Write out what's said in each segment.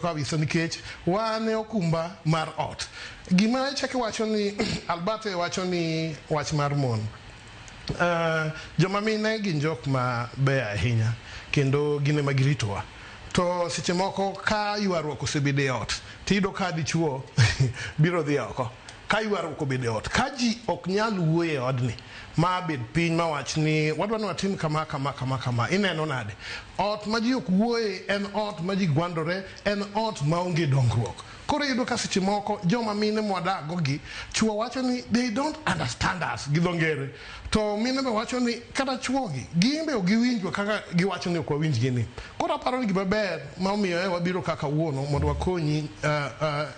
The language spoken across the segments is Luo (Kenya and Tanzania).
kabisa nikech wan e okumba mar ot gima chake wacho ni albert e wacho ni wach mar mon uh, joma mine gin jok ma beyo ahinya kendo gin ema giritowa to seche moko ka ywaruok osebedo e ot tiyudo ka dichuo biro dhi oko Ka ywaruok obedo e ot, ka ji ok nyal wuoyo e odni, ma a bed piny ma wach ni, wadwa ni watim kama, kama, kama, kama, ineno nade? Ot ma ji ok wuoye en ot ma ji gwandore, en ot ma onge dongruok. Koro iyudo ka seche moko joma mine mwadak-go gi, chwo wacho ni they don't understand us gi dho ngere, to mine be wacho ni kata chwogi, gin be ok giwinjwa kaka giwacho ni ok wawinjgi ni. Koro aparo ni gima ber ma omiyo e wabiro ka kawuono mondo wakonyi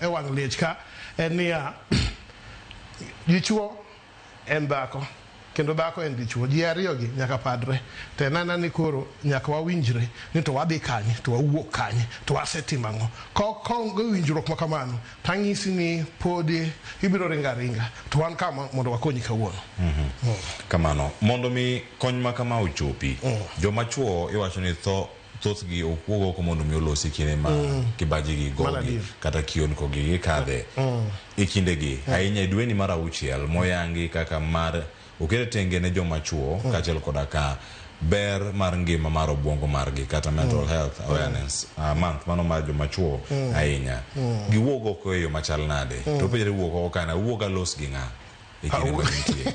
e wang' liech ka, en niya, Dichwo en dhako kendo dhako en dichwo, ji ariyogi nyaka padre. To en aena ni koro nyaka wawinjre ni to wadhi kanye, to wawuok kanye, to wasetimo ang'o. Kaonge winjruok ma kamano, to anyisi ni podi ibiro ringo aringa, to wan ka mondo wakonyi kawuono. Kamano. Mondo mi kony ma kama ochopi, joma chwo iwacho ni tho thothgi okuog oko mondo mi olosi kine ma mm. kibaji gi gogi kata kion kogi gi kadhe mm. mm. ikinde gi mm. ahinya e dweni mar auchiel moyangi kaka mar okere tenge ne joma chuo mm. kachel koda ka ber mar ngima mar obwongo margi kata mm. mental mm. health awareness mm. uh, month mano mar joma chuo mm. ahinya mm. giwuog oko e yo machal nade mm. to penjre wuog oko kana wuog alos gi ng'a e kinde ma nitie